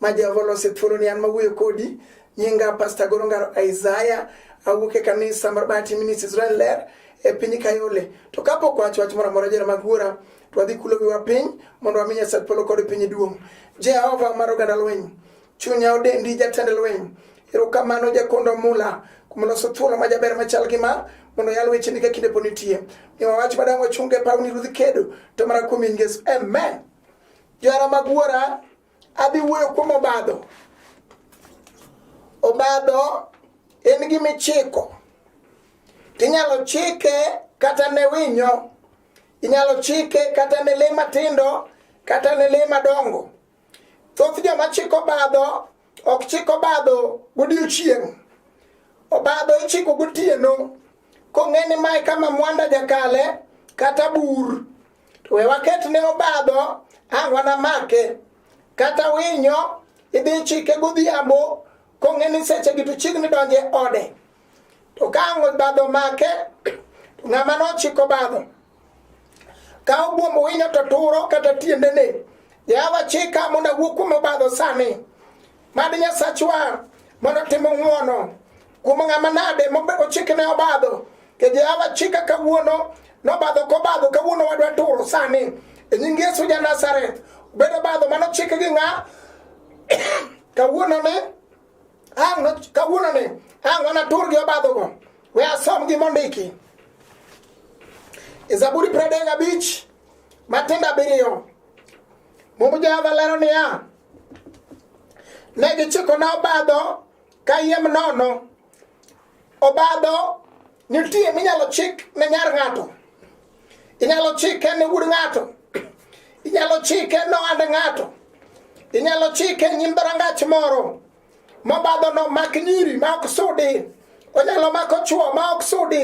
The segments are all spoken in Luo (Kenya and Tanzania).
ma Jehova olose thuolo ni an mawuoyo kodi nyinga Pastor Gorongaro Isaiah awuok e kanisa mar Bahati Ministries Israel Ler e piny Kayole to kapok wacho wach moro amora jera mag wuora to wadhi kulo wiwa piny mondo wami Nyasaye polo kod piny duong' Jehova mar oganda lweny chunya odendi jatend lweny erokamano jakondo mula kuom loso thuolo ma jaber machal gi ma mondo yal wecheni ka kinde pod nitie ni wawach madang' wachunge pawni ruodh kedo to mana kuom in Yesu amen johera mag wuora Adhi wuoyo kuom obadho. Obadho en gima ichiko. Tinyalo chike kata ne winyo, inyalo chike kata ne le matindo, kata ne le madongo. Thoth joma chiko obadho ok chik obadho godiechieng'. Obadho ichiko gotieno kong'e ni mae kama mwanda jakale kata bur To we waketne obadho ang' wanamake. Kata winyo idhi chike godhiambo kong'e ni sechegi to chiegni donjo e ode. To ka ang' obadho make to ng'ama nochiko obadho ka obuombo winyo to turo kata tiendene. Yawa chika mondo awuo kuom obadho sani. Mad Nyasachwa mondo timo ng'uono kuom ng'ama nade mochikne obadho ke Jehova chika kawuono nobadho kobadho kawuono wadwa turo sani e nying Yesu ja Nazareth bedo badho mano chik gi ng'a kawuono ni ang' kawuono ni ang' wana tur gi obadhogo we asom gi mondiki e Zaburi pradek abich matindo abiriyo Muma Jehova lero niya Ne gichiko na obadho kayiem nono. Obadho nitie minyalo chik ne nyar ng'ato, inyalo chike ne wuod ng'ato, inyalo chike ne ohand ng'ato, inyalo chike nyim dhorangach moro. Mobadho no mak nyiri ma ok sudi, onyalo mako chwo ma ok sudi,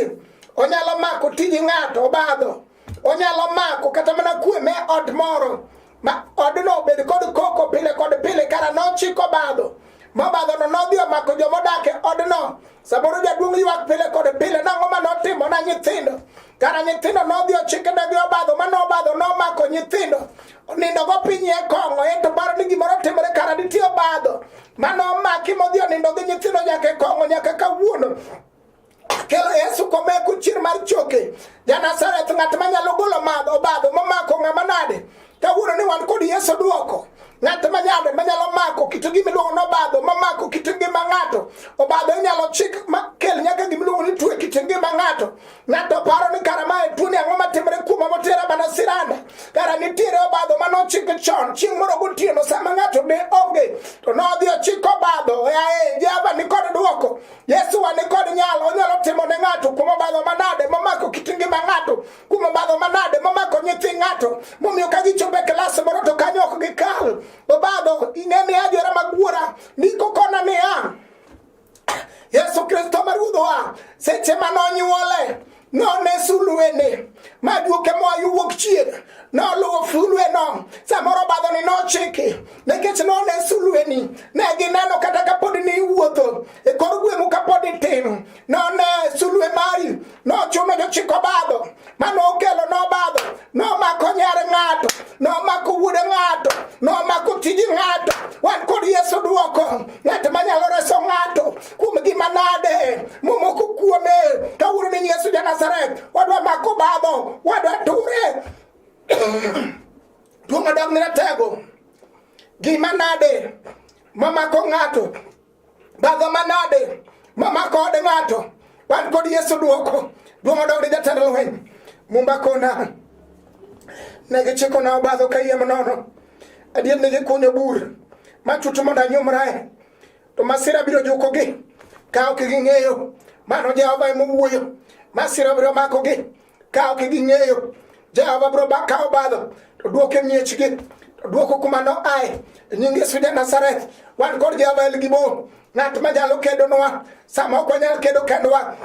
onyalo mako tiji ng'ato obadho, onyalo mako kata mana kwe me ot moro ma odno obed kod koko pile kod pile kara nochiko badho mobadhono nodhi omako joma odak e odno Samoro jaduong' ywak pile kod pile nang'o ma notimo na nyithindo kara nyithindo nodhi ochike ne gi obadho ma nobadho nomako nyithindo onindo go piny e kong'o ento paro ni gimoro timore kara nitie obadho ma nomaki modhi onindo gi nyithindo nyaka e kong'o nyaka kawuono kelo yesu komeku chir mar choke ja nazareth ng'at manyalo golo madho obadho momako ng'ama nade kawuono ni wan kod yesu duoko ng'at manyalo manyalo mako kit gima iluongo nobadho mamako kit ngima ng'ato obadho inyalo chik makel nyaka gima iluongo ni twe kit ngima ng'ato ng'ato paro ni kara mae tuoni ang'o matimore kuoma motera mana siranda kara nitiere obadho ma nochik chon chieng' moro gotieno sama ng'ato ne onge to nodhi ochiko obadho ae jehova nikod dwoko yesu wa nikod nyalo onyalo timo ne ng'ato kuom obadho manade mamako kit ngima ng'ato Kuom obadho manade mamako nyithi ng'ato momiyo ka gichopo e klas moro to kanyo ok gikal. Obadho ing'e ni ajora mag wuora ndiko kona niya, Yesu Kristo ma Ruodhwa seche ma nonyuole none sulwene ma duoke moa yo wuok chieng' noluwo sulweno samoro obadhoni nochiki nikech none sulweni ne gineno kata kapod ni iwuotho e kor gweng'u kapod itin none sulwe mari nochume jochiko badho mane okelo nobadho nomako nyar ng'ato nomako wuode ng'ato nomako tiji ng'ato wan kod yesu dwoko ng'at manyalo reso ng'ato kuom gima nade momoko kuome kawuono ni yesu ja nazaret wadwa mako badho wadwa ture duong' odogne tego gima nade mamako ng'ato Badha manade mama kode ng'ato wan kod Yesu duoko duong' odogre jatend lweny mumba kona ne gichiko na obadho kayiem nono adier ne gikunyo bur machuto mondo anyumrae to masira biro jukogi ka ok ging'eyo mano Jehova emowuoyo masira biro makogi Kawo gi ging'eyo Jehova biro kawo badho to duoke miechgi duoko kuma no ae nying Yesu ja Nazareth wan kod Jehova El Gibor ng'at ma nyalo kedonwa sama ok wanyal kedo kendwa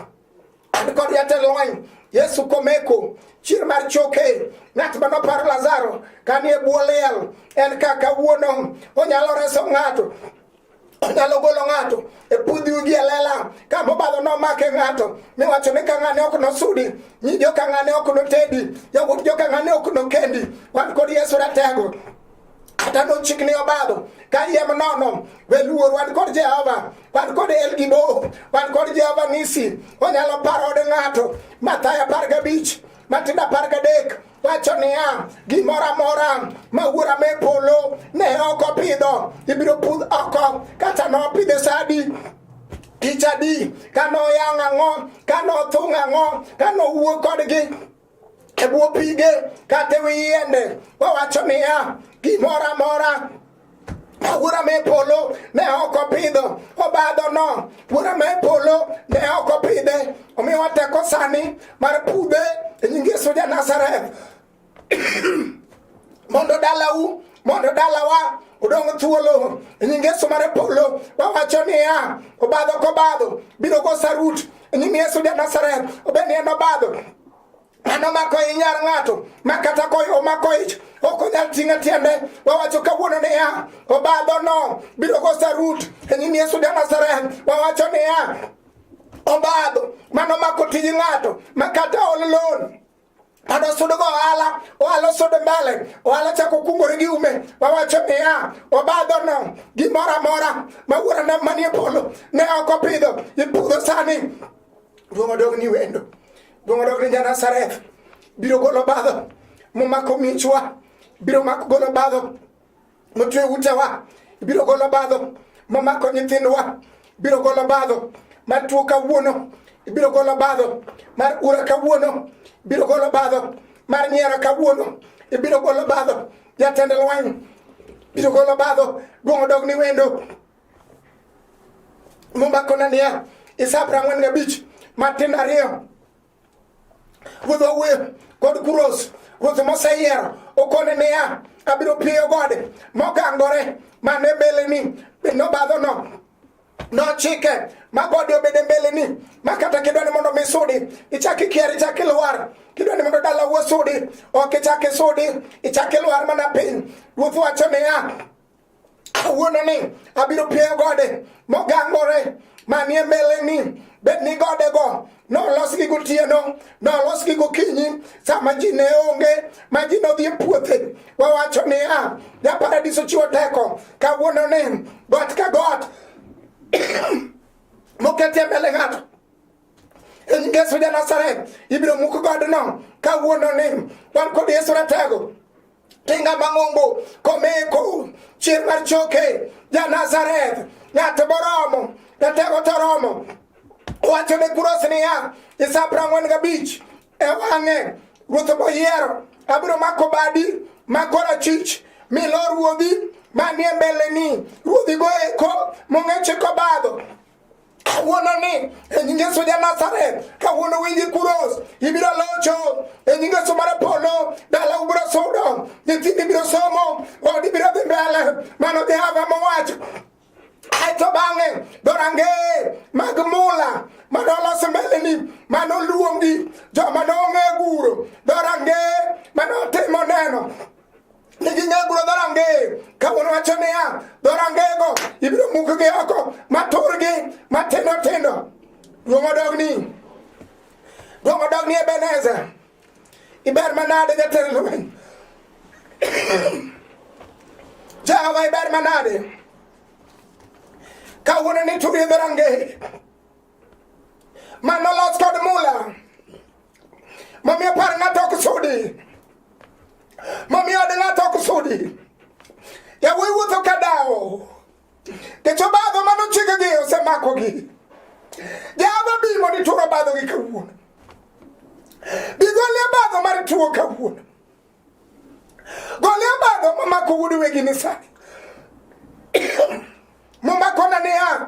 an kod jatend lweny Yesu komeko chier mar choke ng'at ma noparo Lazaro kanie bwo liel en kaka wuono onyalo reso ng'ato Onyalo golo ng'ato e pudhi ugi e lela ka mobadho nomake ng'ato miwacho ni ka ng'ane ok nosudi nyi jo ka ng'ane ok notedi yawuot jo ka ng'ane ok nokendi wan kod Yesu ratego kata nochikni obadho ka yiem nono we luor wan kod Jehova wan kod El Gibo wan kod Jehova Nisi onyalo paro od ng'ato Mathayo apar gabich Matendo apar gadek wacho niya, gimoro amora ma wuora me polo ne ok opidho ibiro pudh oko, kata nopidhe sadi tich adi, ka noyang' ang'o, ka nothung' ang'o, ka nowuo kodgi e bwo pige kata e wi yiende, wawacho niya, gimoro amora Wura me polo ne ok opidho obadhono. Wura me polo ne ok opidhe. Omiyo wateko sani mar pudhe e nying Yesu ja Nazareth. Mondo dalau, mondo dalawa odong' thuolo e nying Yesu mar polo. Wawacho niya, obadho kobadho biro go sarut e nying Yesu ja Nazareth. Obed ni en obadho en omako i nyar ng'ato ma kata ko omako ich ok onyal ting'e tiende wawacho kawuono niya obadhono biro go sarut e nyim yesu ja nazareth wawacho niya obadho mano mako tij ng'ato ma kata ol loan adosudo go ohala ohala osudo mbele ohala chako kungore gi ume wawacho niya obadho no gimoro amora ma wuora na manie polo ne ok opidho ipudho sani ruomo dog ni wendo Donge dok ni Janazareth biro golo badho momako michwa, biro mako golo badho motwe utewa, biro golo badho momako nyithindwa, biro golo badho mar tuo kawuono, biro golo badho mar ura kawuono, biro golo badho mar nyiero kawuono, ibiro golo badho jatend lweny, biro golo badho duong' odog ni wendo. Muma kona niya, isa prangwen ga bich, matin ariyo. Wudho we, kod kuros, ruth mosa yiero, okone niya, abiro piyo gode, mokangore, mane bele ni, bino badho no, nochike ma gode obede mbele ni ma kata kidwa ni mondo misudi ichak ikier ichak ilwar kidwa ni mondo dala wuo sudi ok ichak isudi ichak ilwar mana piny ruoth wacho niya kawuononi abiro pieyo gode mogangore manie mbeleni bed ni godego nolosgi gotieno nolosgi gokinyi sama ji ne onge ma ji nodhi e puothe wawacho niya ja paradiso chiwo teko kawuono ni got ka got moketie mbele ng'ato e nying yesu ja nasaret ibiro muk godno kawuono ni wan kod yesu ratego Tinga mang'ongo komeko chier mar choke ja Nazareth ng'at boromo jatego toromo wacho ne Kuros niya Isaya piero ang'wen gabich e wang'e ruoth moyiero abiro mako badi mako rachich mi lo ruodhi manie mbeleni ruodhigo eko mong'eche kobadho kawuono ni e nying Yesu ja Nazareth kawuono winji kuros ibiro locho e nying Yesu mar polo dala ubiro sudo nyithindi biro somo odi biro dhi mbele mano Jehova mowacho aeto bang'e dorange mag mula mane olos mbeleni mane oluongi joma nong'e guro dorange mane otimo neno ijinyagulo dhorange kawuono wacho niya dhorangego ibiro mukgi oko maturgi matindo tindo duong' odogni duong' odogni ebeneza iber manade jatend lweny jehova iber manade kawuono ni turi dhorangeye Mano los kod mula. Momiyo par ng'ato ok sudi. Momiyo od ng'ato ok sudi. Yawuoyi wuotho ka dawo. Kecho badho mano chikegi osemakogi. Java bi mondo ituro badho gi kawuono. Bigolie badho mar tuo kawuono. Golie badho mamako wuod wegi ni sani. Momakona niya.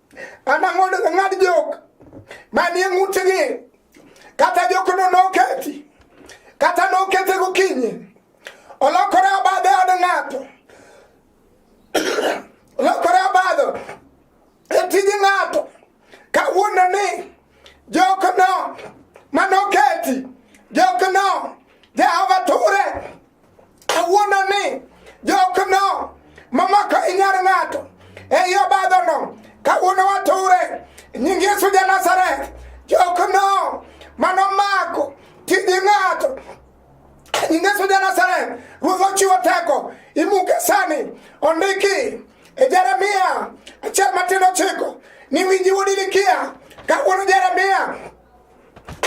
anang'odo ng'ad jok manie ng'utgi kata jokno noketi kata nokete gokinyi olokore abadhe od ng'ato olokore abadho e tij ng'ato kawuono ni jokno manoketi jokno jehova ture Kawuono ni jokno mamako inyar ng'ato e yo badhono kawuono wature nying Yesu ja Nazareth jokno manomako tij ng'ato nying Yesu ja Nazareth ruoth ochiwo teko imuke sani ondiki e Jeremia achiel matin ochiko ni winji wuod Ilikia kawuono Jeremia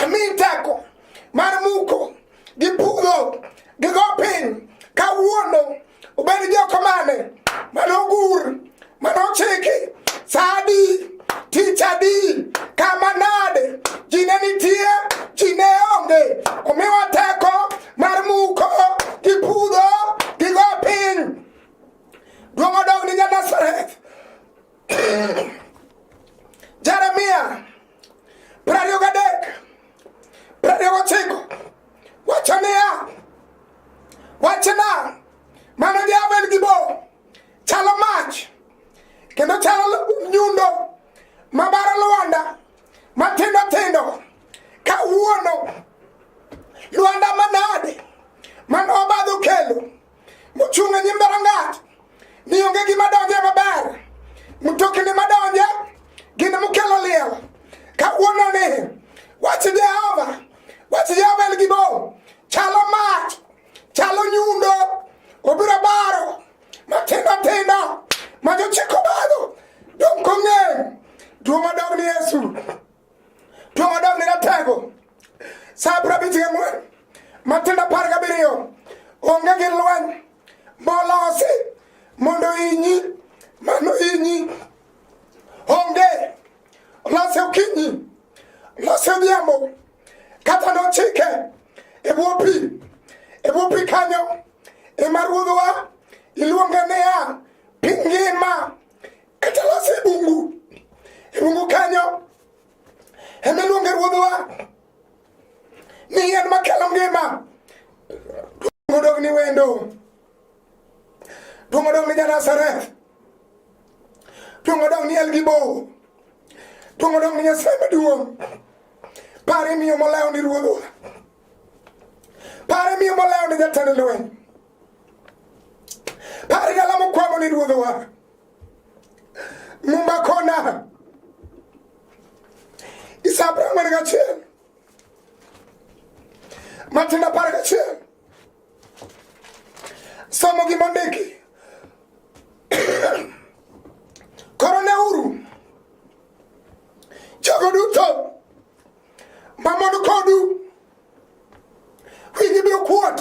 mi teko mar muko gipudho gigo piny kawuono obed joko mane manogur manochiki sadi tich adi kama nade ji ne nitie ji ne onge omiwa teko mar muko gipudho gigo piny duong' odog ni nyanasareth jeremia Prariyo gadek, prariyo gochiko, wacho niya, wachna, mano diabel gi bo, chalo mach, kendo chalo nyundo mabaro lwanda matindo tindo kawuono lwanda manade man obadho kelo Muchung' e nyim dhorangach, ni onge gima donje maber. Mtokni madonje gin mukelo liel. Kawuononi, wach Jehova, wach Jehova en gibo, chalo mach, chalo nyundo, obiro baro matindo tindo ma jochiko badho dong' kong'eny duong' odog ni Yesu. Tuo madam ni ratego. Sa prabiti ng'wen. Matinda par gabiriyo. Onge gi lweny. Molosi. Mondo inyi. Mano inyi. Onge. Lose okinyi. Lose odhiambo. Kata nochike. E bwo pi. E bwo pi kanyo. Ema ruodhwa. Iluonge niya. Piny ngima. Katalaso e bungu, e bungu kanyo ema iluonge ruodhwa ni yien makelo ngima. Duong' odog ni wendo, duong' odog ni Janazareth, duong' odog ni Elgibo, duong' odog ni Nyasaye maduong'. Pare miyo molawo ni ruodhwa, pare miyo molawo ni jatend lweny, pare galamo kwamo ni ruodhwa. Mungu akona isabra mwana kachenu matenda para kachenu somo kimondiki korone uru jogo duto mamondo kodu winyi biro kuot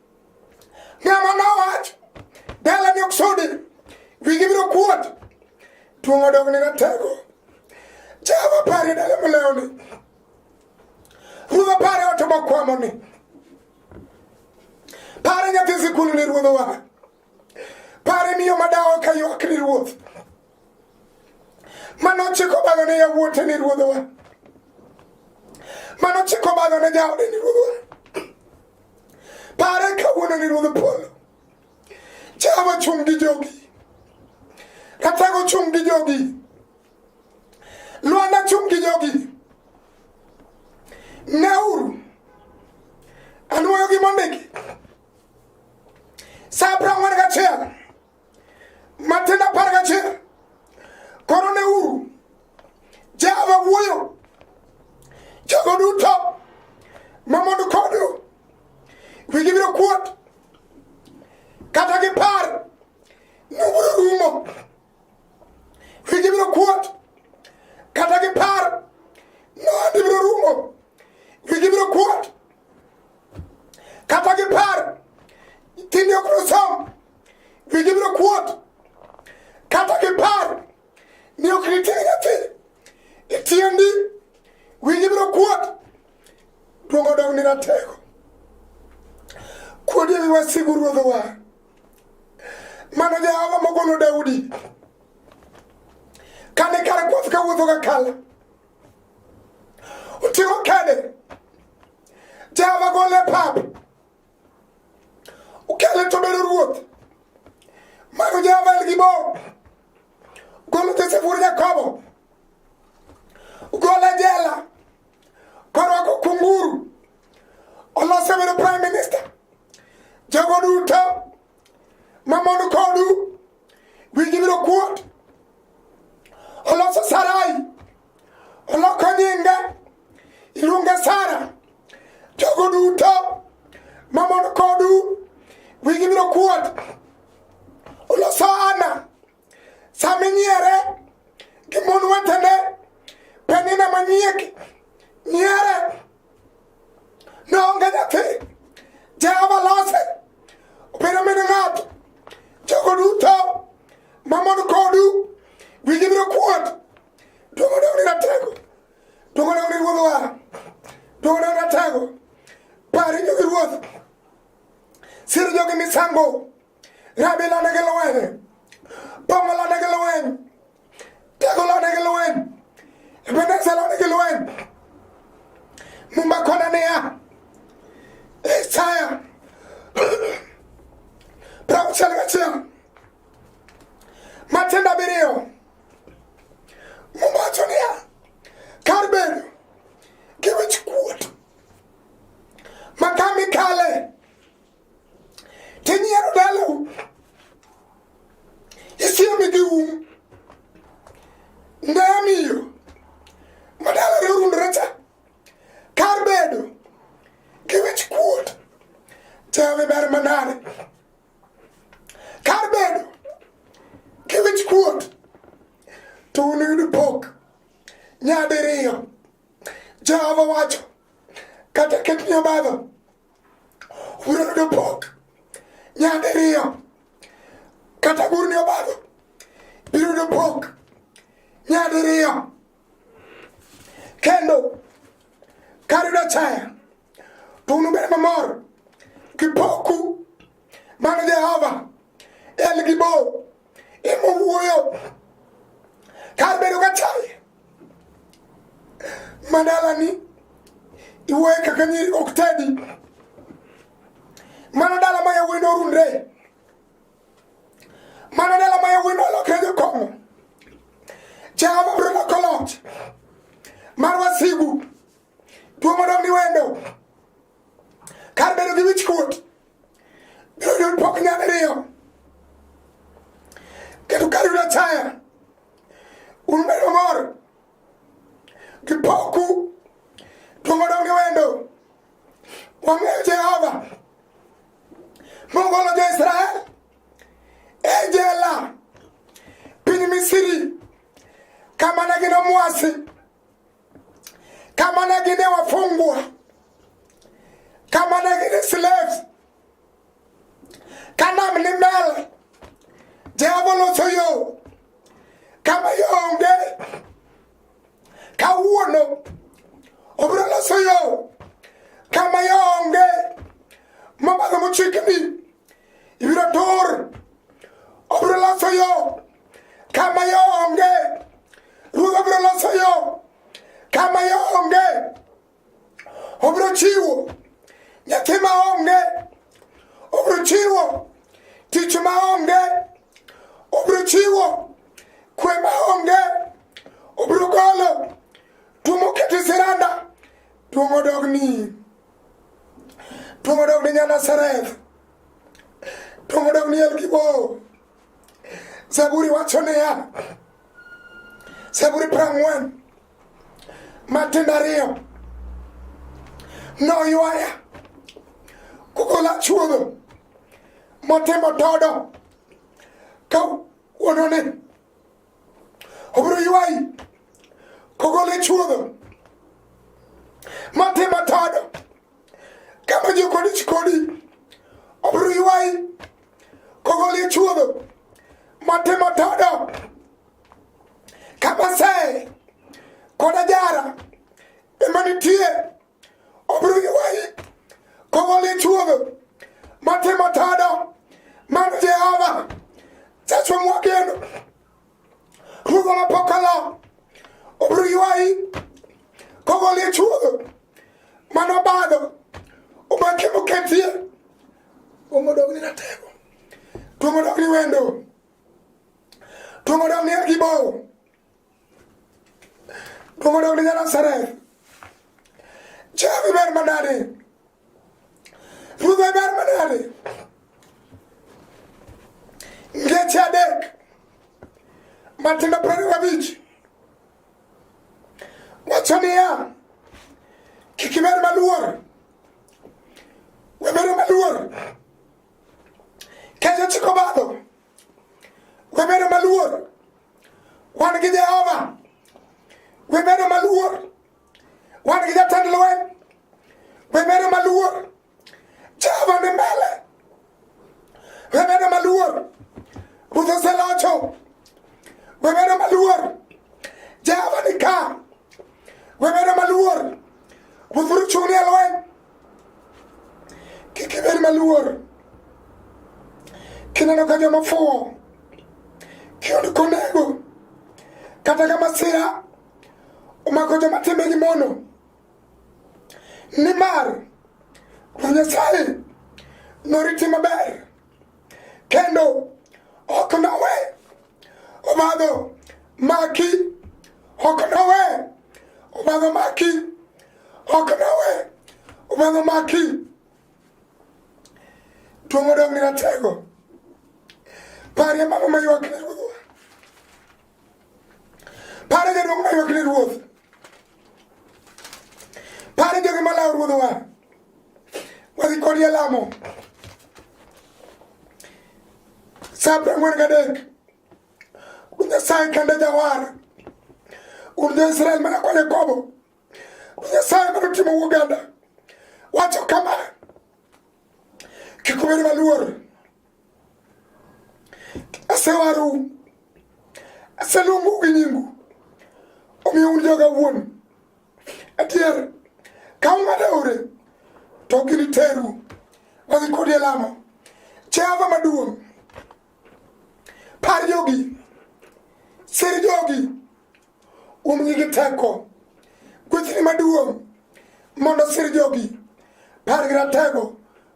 Nyamono wach, dala ni oksudi, wigi biro kuot, tuong' odong ni natego. Jehova pare dala molewni, ruodha pare oto mokwamoni, pare nyathi sikul ni ruodhowa, Pare miyo madawo ka ywak ni ruoth manochiko balo ne yawuote ni ruodhowa manochiko balo ne jaode ni ruodhowa pare kawuono ni ruodh polo jehova chung' gi jogi ratego chung' gi jogi lwanda chung' gi jogi neuru anwoyo gi mondiki Sabra mwana kachela. Matenda para kachela. Korone uru. Java wuyo. Jago duto. Mamondo kodo. We give it a quote. Kata gipar. Nuburu rumo. Wigi biro kuot. Kata gi par. Nondi biro rumo. Wigi biro kuot. Kata gi par. Tindi ok nosom. Wigi biro kuot. Kata gi par. Ni ok nitie nyathi. Itiendi. Wigi biro kuot. Duogo dong ni ratego. Kuodi wasigu ruodhowa. Mano Jehova mogolo Daudi kane kare kwath ka wuotho ka kala oting'o kede Jehova gole pap okele to bedo ruoth mano Jehova en gi bo golo Josef wuod Jakobo gole jela Korwako kunguru olose bedo prime minister jogo duto mamon kodu winji biro kuot oloso sarai oloko nyinge iluonge sara jogo duto mamon kodu winji biro kuot oloso ana saminyere gi mon wetene penina manyieki nyere noonge nyathi jehova lose obedo min ng'ato jogo duto mamon kodu wigi biro kuot duogo dogni ratego duogo dogni ruodh wara duogo dogni ratego pari jogi ruoth siro jogi misango Rabila nigi lweny, Pongolo nigi lweny, Tegolo nigi lweny, Ebenezer nigi lweny. Mumba kona niya, Isaya prauchiel gachiel matindo abiriyo Mumba wacho niya, kar bedo gi wich kuot ma kami kale tinyiero dalau isiemi gi um ndamiyo madalare orundore cha kar bedo gi wich kuot jawe ber manade kar bedo gi wich kuot to unuyudo pok nyadiriyo jehova wacho kata ketni obadho Uro no pok. Nyande riyo. Kata gur ni obago. Biro no pok. Nyande riyo. Kendo. Kari no chaya. Tunu bere mamor. Kipoku. Mano Jehova. El gibo. Imo wuoyo. Kar bedo ka chaya. madalani iwoye kaka nyiri ok tedi mano dala ma yawuoyi norundre mano dala ma yawuoyi nolokre jokong'o jehova biro loko loch mar wasigu Tuo mondo mi wendo kar bedo gi wich kuot biro yudo pok nyal riyo kendo kar yudo achaya un bedo mor gi poku tuo mondo mi wendo wang'eyo Jehova mogolo jo Israel e jela piny Misiri kama ne gin omwasi kama nagine wafungwa, kama nagine slave kana mlimele Jehova loso yo kama yonge kawuono obiro loso yo kama yonge mabadho mochikni ibiro tur obiro loso yo Kama yo onge, Ruoth obiro loso yo. Kama yo onge, obiro chiwo. Nyathi ma onge, obiro chiwo. Tich ma onge, obiro chiwo. Kwe ma onge, obiro golo. Tumo kete siranda, tumo dogni. Tumo dogni nyana sereth. Tumo dogni elkibo. Zaburi wacho niya, Zaburi prang'wen matindo ariyo noywaya kukola chuodho motimo todo ka wuonone obiro ywayi kogole chuodho matimo todo kama jokoni chikoni obiro ywayi Kogolichuodo matimo todo kabasee kod ajara ema nitie obiro ywayi kogolichuodo matimo todo mano Jehova Jachwa mwageno Ruodhwa mapok alo obiro ywayi kogolichuodo mano badho umakemo ketie Tuomo dog ni ratego. Tuomo dog ni wendo. Tuomo dog ni akibo. Tuomo dog ni nyara sare. Chavi ber manade. Ruve ber manade. Ngeche adek. Matindo prani wabich. Wacho niya, kik ibed maluor, webedo maluor kech ochiko badho, webedo maluor wan gi Jehova, webedo maluor wan gi jatend lweny, webedo maluor Jehova ni mbele, webedo maluor, Ruoth oselocho, webedo maluor, Jehova ni ka, webedo maluor, Ruoth biro chung'ni e lweny, kik ibed maluor kineno ka joma fuwo kiyud konego kata ka masira omako joma timbegi mono Nimar Ruoth Nyasaye noriti maber kendo ok nowe obadho maki ok nowe obadho maki ok nowe obadho maki duong' odong' ni ratego parie mano maywakne ruodhwa Pare jadong maywak ne ruoth. Pare jogi malawo ruodhwa. Wadhi kodi e lamo. Sa prang'wen gadek. Ruoth Nyasaye kende jawar. Un jo-Israel mana kwa Jakobo. Ruoth Nyasaye mana otimo Uganda. Wacho kama. Kik ubed maluor. Asewaru, aseluongu gi nyingu, omiyo un joga wuon. Adier, ka ung'ado aore, to giniteru wadhi kodi e lamo. Jehova maduong', par jogi, sir jogi. Umgi gi teko. Gwethni maduong' mondo sir jogi. Par gi ratego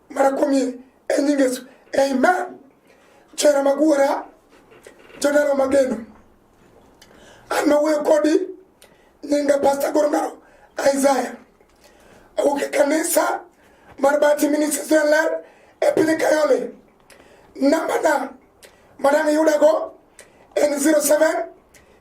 mara kuom e nying Yesu. Amen. Chera magwara jodaro mageno. An mawuoyo kodi nyinga Pastor Gorongaro Isaiah. Awuok e kanisa mar Bati Ministries Ler e piny Kayole. Nambana madang' yudago en 07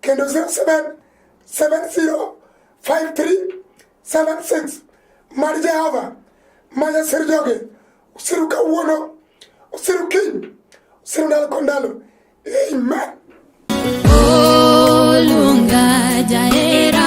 kendo 07705376 mar Jehova ma jasir joge usiru kawuono usiru kiny usiru ndalo kod ndalo amen olunga jaera